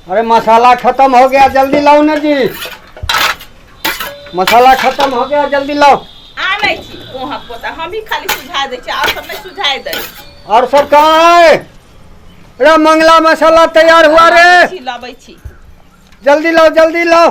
अरे मसाला खत्म हो गया जल्दी लाओ ना जी मसाला खत्म हो गया जल्दी लाओ आनै छी ओहाँ पोता हमही खाली सुझा दै छी आर सब नहि सुझाय दै और सब कहाँ है अरे मंगला मसाला तैयार हुआ रे छी लबै छी जल्दी लाओ जल्दी लाओ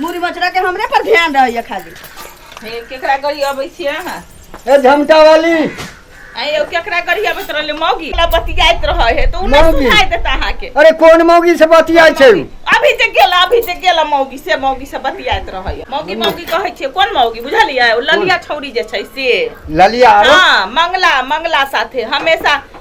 मुड़ी बचरा के हमरे पर ध्यान रहैया खाली हे केकरा गरी अबै छियै अहाँ ए झमटा वाली आइ यौ केकरा गरी अबैत रहले मौगी ला बतियाइत रहै हे तऽ उ नहि मौगी। सुनाइ देत अहाँके अरे कोन मौगी से बतियाइ छै उ? अभी जे गेल अभी जे गेल मौगी से मौगी से बतियाइत रहै हे। मौगी मौगी कहै छियै कोन मौगी बुझलियै ओ ललिया छौरी जे छै से ललिया आरो हाँ मंगला मंगला साथे हमेशा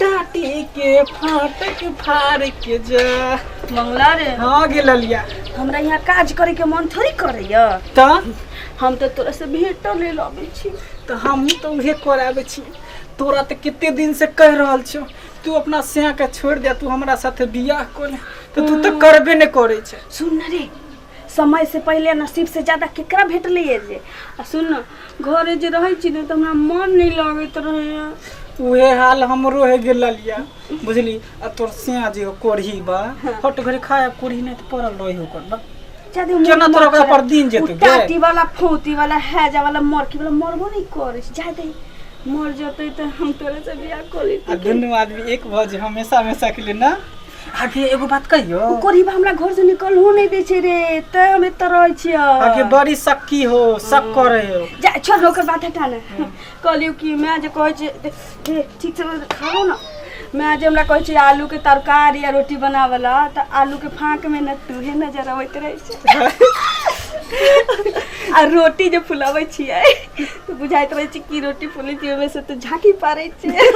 टाटी के फाटक फाड़ के जा मंगला रे हाँ गे ललिया हमरा यहाँ काज करे के मन थोड़ी करैया त हम तो तोरा से भेटो ले लबै छी त हमहूँ तो उहे कराबै छी तोरा तऽ कते दिन से कहि रहल छौ तू अपना सिया के छोड़ि दे तू हमरा साथे बियाह कर ले तऽ तू तऽ करबे नहि करै छै सुन न रे समय से पहिले नसीब से ज्यादा केकरा भेटलैए जे आ सुन न घरे जे रहै छी ने तऽ हमरा मन नहि लगैत रहैए उहे हाल हमरो है गेल ललिया बुझली आ तोर सिया जे कोढ़ी बा हट घरे खाए कोढ़ी नहीं तो पड़ल रही ओकर बा ज्यादे मन केना तोरा मत ओकरा कर। पर दिन जेतै उ टाटी वाला फौती वाला हैजा वाला मरकी वाला मरबो नहीं करे छै ज्यादे मर जतै तऽ हम तोरे से बियाह कऽ आ लेती दुनू आदमी एक भऽ जे हमेशा हमेशा के लिए ना आगे एगो बात कहियो ओ कोरिबा हमरा घर से निकलहो नहीं दे छै रे ते हम एत रहे छिय आगे बड़ी सक्की हो सक करे हो जा छोड़ ना ओकर बात हटा ना कहलियो कि मैं जे कहै छै दे- दे, ठीक से खाओ ना मैं जे हमरा कहै छै आलू के तरकारी या रोटी बनावला त आलू के फाँक में न तूहे नजर अबैत रहै छै आ रोटी जे फुलाबै छियै तऽ बुझाइत रहै छै कि रोटी फूलै छै ओहिमे से तऽ झाँकी पारै छै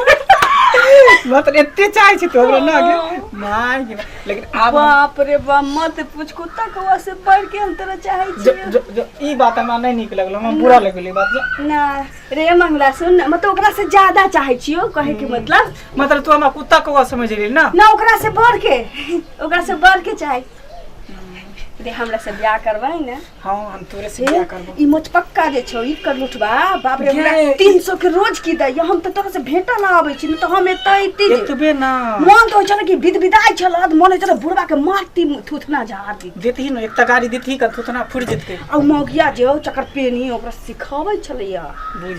मतलब एते चाहै छै तोरा ना गे माय गे माय। लेकिन आब हम- बाप रे बाप मत पूछ कुत्ता कौआ से बढ़ के हम तोरा चाहै जो, छियै जो, जो, ई बात हमरा नहि नीक लगल हमरा बुरा लगल ई बात जो। ना रे मंगला सुन ना, मतलब ओकरा से ज्यादा चाहै छियो कहे के मतलब मतलब तू हमरा कुत्ता कौआ समझ रही ना ना ओकरा से बढ़ के ओकरा से बढ़ के चाहै दे हमरा से बियाह करबै ने हाँ हम तोरे से बियाह करबो ई मोच पक्का जे छौ ई कर लुटबा बाप रे हमरा गे, 300 के रोज की दैयो हम त तोरा से भेंटा ना आबै छी त हम एतै एतै जे एतबे ना मन तो चल कि विद विदाई छल अध मन चल बुढ़वा के मारती थुथना झाड़ दी देतही न एकटा गाड़ी देतही का थोतना फुट जेतै आ मौगिया जे हो चकर पेनी ओकरा सिखाबै छलैया बुझ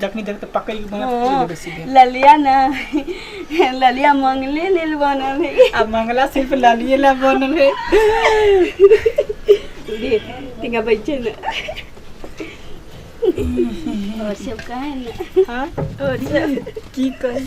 जखनी देख तऽ पकड़ के बना ओ, पूरे बेसी भेल ललिया ना ललिया मंगले लेल बनल है आ मंगला सिर्फ लालिए ला बनल है दे तिंगा बैठे ना और सब कहे ना हाँ और सब की कही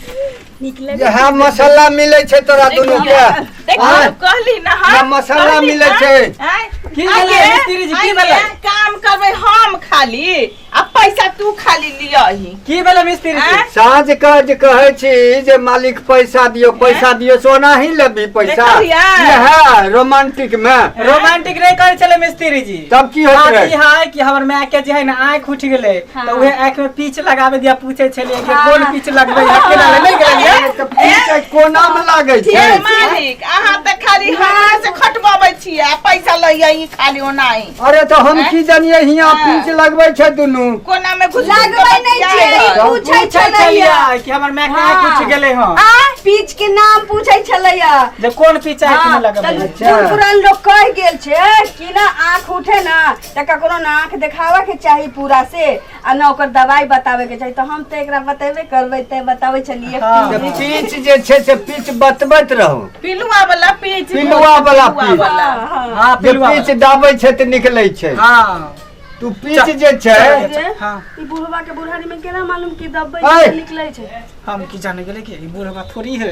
निकले यहाँ मसाला मिले छै तोरा दुनू के आँय? कहली ना यहाँ मसाला मिले छै की भेलै मिस्त्री जी की भेलै काम करबै हम खाली अब पैसा तू खाली लिया ही की भेलै मिस्त्री जी आँय? साँझ के जे कहै छी जे मालिक पैसा दियो पैसा दियो सोना ही लेबी पैसा देखल हिया? यह रोमांटिक में रोमांटिक नहीं करे चले मिस्त्री जी तब की होत बात रहे? ई है कि हमर माय के जे है ना आंख उठ गेले हाँ। तो उहे आंख में पीछ लगावे दिया पूछे छलिए कि हाँ। कोन पीछ लगबे है केना ले नहीं गेलिए तऽ पीछे कोना में लागै हे छै मालिक अहाँ तऽ खाली हमरा से खटबबै छियै आ पैसा लैया ही खाली ओनाही अरे तो हम की जानिए हिया पीछ लगबै छै दुनु कोना में घुस लगबै नै छै पूछै छलैया कि हमर माय के हाँ। कुछ गेले ह आ पीछ के नाम पूछै छलैया जे कोन पीछ है कि लगबै अच्छा पुरान लोग कह गेल छै कि ना आंख उठे ना त ककरो ना आंख देखावा के चाही पूरा से आ ना ओकर दवाई बतावे के चाहिए तो हम तो एकरा बतेबे करबे ते बतावे चलिए जे पीच जे छै से पीच बतबैत रहू पिलुआ वाला पीच पिलुआ वाला पीच। वाला हाँ जे पिलुआ पीच दाबै छै तऽ निकलै छै हाँ तू पीच जे छै हाँ ई बुढ़वा के बुढ़ारी में केना मालूम कि दबे ऐ! निकले छै हम की जाने गेले कि ई बूढ़वा थोड़ी है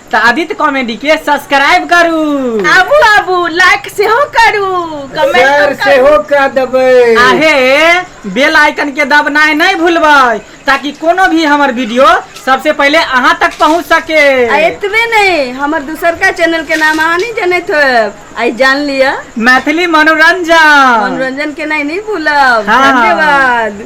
तऽ आदित्य कॉमेडी के सब्सक्राइब करू आबू आबू लाइक सेहो करू कमेंट सेहो कऽ देबै आहे बेल आइकन के दबनाइ नहि भूलबै ताकि कोनो भी हमर वीडियो सबसे पहले अहाँ तक पहुंच सके आ एतबे नहीं हमर दूसर का चैनल के नाम अहाँ नहीं जानत हो आई जान लिया मैथिली मनोरंजन मनोरंजन के नहीं नहीं भूलब हाँ। धन्यवाद